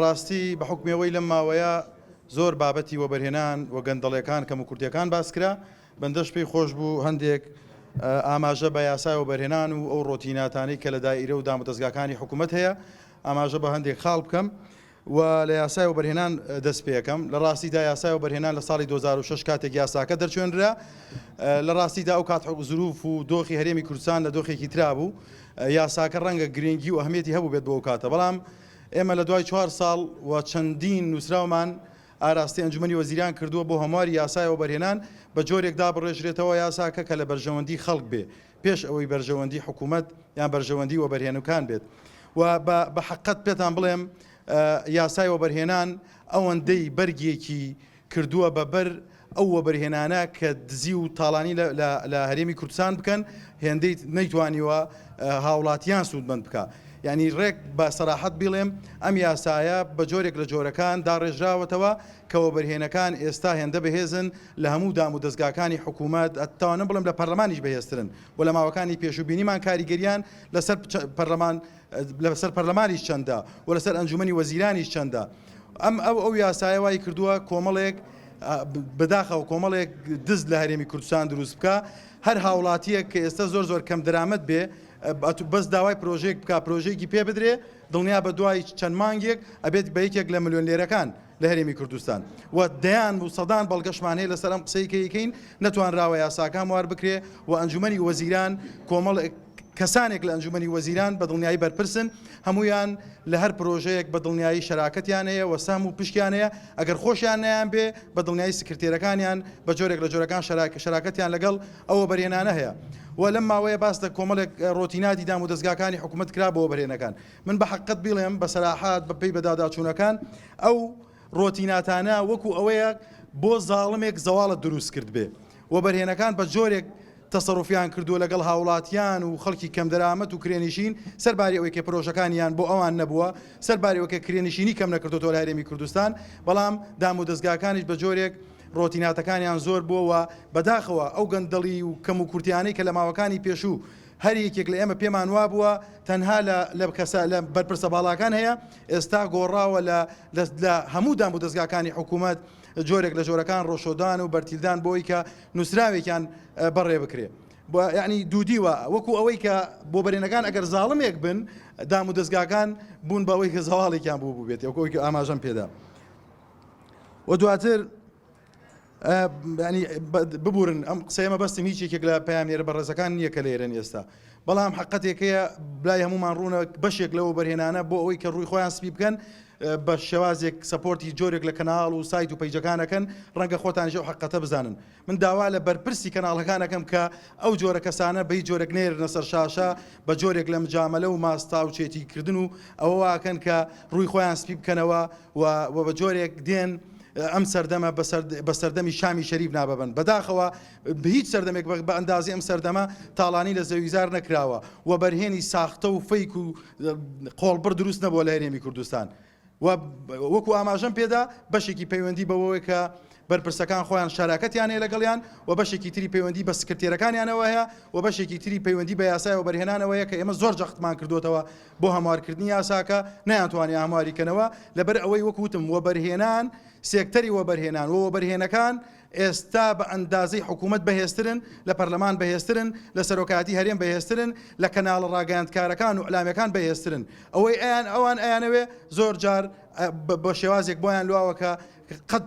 ڕاستی بە حوکمی ئەوەی لەم ماوەیە زۆر بابەتی وەبەرهێنان و گەندەڵەکان کەم و کورتەکان باسکرا بەندەش پێی خۆش بوو هەندێک ئاماژە بە یاسای وەبەرهێنان و ئەو ڕۆتیناتانی کە لە دایرە و دامودەستگاکانی حکوومەت هەیە ئاماژە بە هەندێک خاڵ بکەم و لە یاسای وەبەرهێنان دەست پێەکەم لە ڕاستیدا یاسای وەبەرهێنان لە ساڵی 2006 کاتێک یاساکە دەرچێنرا لە ڕاستیدا ئەو کات حەق زروف و دۆخی هەرێمی کوردستان لە دۆخێکی ترابوو یاساکە ڕەنگە گرینگی و ئەهمیەتی هەبووبێت بۆ ئەو کاتە، بەڵام ئێمە لە دوای چوار ساڵ و چەندین نووسراومان ئاراستەی ئەنجومەنی وەزیران کردووە بۆ هەمواری یاسای وەبەرهێنان بە جۆرێک دابڕێژرێتەوە یاساکە کە لە بەرژەوەندی خەڵک بێ پێش ئەوەی بەرژەوەندی حکوومەت یان بەرژەوەندی وەبەرهێنوکان بێت و بە بە حەققەت پێتان بڵێم یاسای وەبەرهێنان ئەوەندەی بەرگێکی کردووە بە بەر ئەو وەبەرهێنانە کە دزی و تاڵانی لە هەرێمی کوردستان بکەن هێندەی نەیتوانیوە هاوڵاتیان سوودمەند بکە یعنی ڕێک بە سەراحەت بیڵێم ئەم یاسایە بە جۆرێک لە جۆرەکان داڕێژراوەتەوە کەەوە بەرهێنەکان ئێستا هێندە بەهێزن لە هەموو دام و دەستگاکانی حکوومەت ئەتوانم بڵم لە پەرلەمانیش بەهێسترن و لە ماوەکانی پێشوبینیمان کاریگەریان لەسەر پەرلەمان لە سەر پەرلەمانیش چەندە و لەسەر ئەنجومنی وەزیرانیش چەندە ئەم ئەو ئەو یاسایە وای کردووە کۆمەڵێک بەداخەوە کۆمەڵێک دز لە هەرێمی کوردستان دروست بکە هەر هاوڵاتیەک کە ئێستا زۆر زۆر کەم درامەت بێ بەس داوای پرۆژێک بک پرۆژێکی پێ بدرێ دڵنیا بە دوای چەند مانگێک ئەبێت بە یەکێک لە ملیۆن لێرەکان لە هەرێمی کوردستان و دەیان بوو سەدان بەڵگەشمان هەیە لەسەر ئەم قسەی کەیکەین نەتوانراوە یاساکان وار بکرێ و ئەنجومی وەزیران کۆمەڵ کەسانێک لە ئەنجومی وەزیران بە دڵنیایی بەرپرسن هەمویان لە هەر پرۆژەیەک بە دڵنیایی شراکەتیان هەیە و سام و پشتیان هەیە ئەگەر خۆشیان نیان بێ بە دڵنیایی سکرتێرەکانیان بە جۆرێک لە جۆرەکان شراکە شراکەتیان لەگەڵ ئەوە بەرێنانە هەیە و لەم ماوەیە باس لە کۆمەڵێک ڕۆتینادی دام و دەستگاکانی حکوومەت کرا بۆ بەرێنەکان من بە حەقت بیڵێم بە سەراحات بە پێی بەداداچوونەکان ئەو ڕۆتیناتانە وەکو ئەوەیە بۆ زاڵمێک زەواڵت دروست کرد بێ و بەرهێنەکان بە جۆرێک تەسەڕفیان کردووە لەگەڵ هاوڵاتیان و خەڵکی کەم دەرامەت و کرێنشین سەرباری ئەوەی کە پرۆژەکانیان بۆ ئەوان نەبووە سەربارەوەکە کرێنشینی کەم نەکردوەوە لە هەرێمی کوردستان بەڵام دام و دەستگاکانیش بە جۆرێک ڕۆتیناتەکانیان زۆر بووەوە بەداخەوە ئەو گەندەڵی و کەم و کورتیانەی کە لە ماوەکانی پێشوو هەر یەکێک لە ئێمە پێمان وابووە تەنها لە لە کەسە لە بەرپرسە باڵاکان هەیە، ئێستا گۆڕاوە لە لە هەموو دام و دەزگاکانی حکوومەت جۆرێک لە جۆرەکان ڕۆشۆدان و بەرتیلدان بۆی کە نووسراوێکیان بەڕێ بکرێ. یعنی دوودیوە وەکو ئەوەی کە بۆ بەرێنەکان ئەگەر زاڵمێک بن دام و دەستگاکان بوون بەوەی کە زەواڵێکیان بوو بووبێت وەکۆی ئاماژەم پێدا و دواتر ینی ببورن ئەم قسەیە مەبەستم هیچ یەکێک لە پامێرە بەڕێزەکان نییە کە لێرن ئێستا بەڵام حقەتێکەیە بلای هەمومان ڕوونە بەشێک لەوە بەرهێنانە بۆ ئەوەی کە ڕووی خۆیان سپی بکەن بە شێوازێک سپۆرتی جۆرێک لە کەناڵ و سایت و پەیجەکانەکەن ڕەنگە خۆتانژە و حقەتە بزانن من داوا لە بەرپرسی کەناڵەکانەکەم کە ئەو جۆرە کەسانە بەی جۆرەك نێرنە سەر شاشە بە جۆرێک لە مجاملە و ماستا و چێتی کردن و ئەوەواکەن کە ڕووی خۆیان سپی بکەنەوە و بە جۆرێک دێن ئەم سەردەمە بە سەردەمی شامی شەریف ناببن، بەداخەوە هیچ سەردەمێک بە ئەندازەی ئەم سەردەمە تاڵانی لە زەویزار نەکراوە و بەرهێنی ساختە و فەیک و قۆڵبڕ دروست نەبووە لە هەرێمی کوردستان و وەکو ئاماژەم پێدا بەشێکی پەیوەندی بەوەوە کە بەرپرسەکان خۆیان شاراکەتیان هەیە لەگەڵیان و بەشێکی تری پەیوەندی بە سکرتێرەکانیانەوە هەیە و بەشێکی تری پەیوەندی بە یاسایەوە بەرهێنانەوەیە کە ئێمە زۆر جەختمان کردوێتەوە بۆ هەموارکردنی یاساکە نەیانتوانی هەمواری کەنەوە لەبەر ئەوەی وەک وتم وەبەرهێنان سێکتەری وەبەرهێنان و وەبەرهێنەکان ئێستا بە ئەندازەی حکوومەت بەهێزترن لە پەرلەمان بەهێزترن لە سەرۆکاتی هەرێم بەهێزترن لە کەناڵە ڕاگەاندکارەکان و ئەلامەکان بەهێزترن ئەوەی ئەیان ئەوان ئەیانەوێ زۆر جار بە شێوازێک بۆیان لواوەکە قەت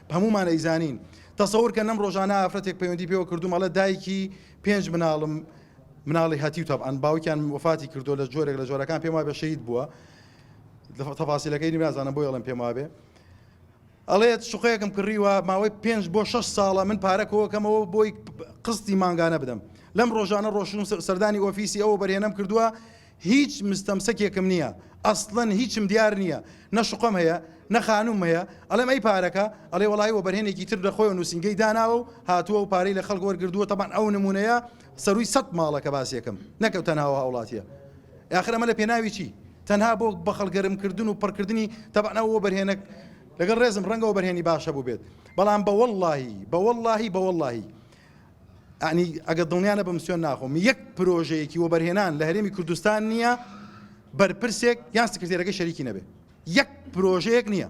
هەموومان ئەیزانین. تەسەور کەن لەم ڕۆژانە ئافرەتێک پەیوەندی پێوە کردووم ئەڵێ دایکی پێنج مناڵم مناڵی هەتیو تەبعەن باوکیان وەفاتی کردووە لە جۆرێک لە جۆرەکان پێم وابێ شەهید بووە تەفاسیلەکەی نازانم بۆی ئەڵێم پێم وابێ ئەڵێت شوقەیەکم کڕیوە ماوەی پێنج بۆ شش ساڵە من پارە کۆکەمەوە بۆی قستی مانگانە بدەم لەم ڕۆژانە ڕۆشن سەردانی ئۆفیسی ئەوە بەرهێنم کردووە هیچ مستەمسەکێکم نییە ئەسڵەن هیچم دیار نییە نە شوقەم هەیە نە خانووم هەیە ئەڵێم ئەی پارەکە ئەڵێ وەڵی وەبەرهێنێکی تر لە خۆی نووسنگەی داناوە و هاتووە و پارەی لە خەڵک وەرگردووە تەبان ئەو نمونەیە سەرووی سەد ماڵەکە باسیەکەم نەکەوت تەناوە هاوڵاتیە یاخرەمە لە پێناوی چی تەنها بۆ بەخەڵگەرمکردن و پڕکردنی تەبانەوە بەرهێنە لەگەڵ ڕێزم ڕەنگەوە بەرهێنی باشە بوو بێت بەڵام بە واللهی بە واللهی بە واللهی یەعنی ئەگە دڵنیا نەبم سوێن ناخۆم یەک پرۆژەیەکی وەبەرهێنان لە هەرێمی کوردستان نییە بەرپرسێک یان سکرتێرەکە شەریکی نەبێ یەک پرۆژەیەک نییە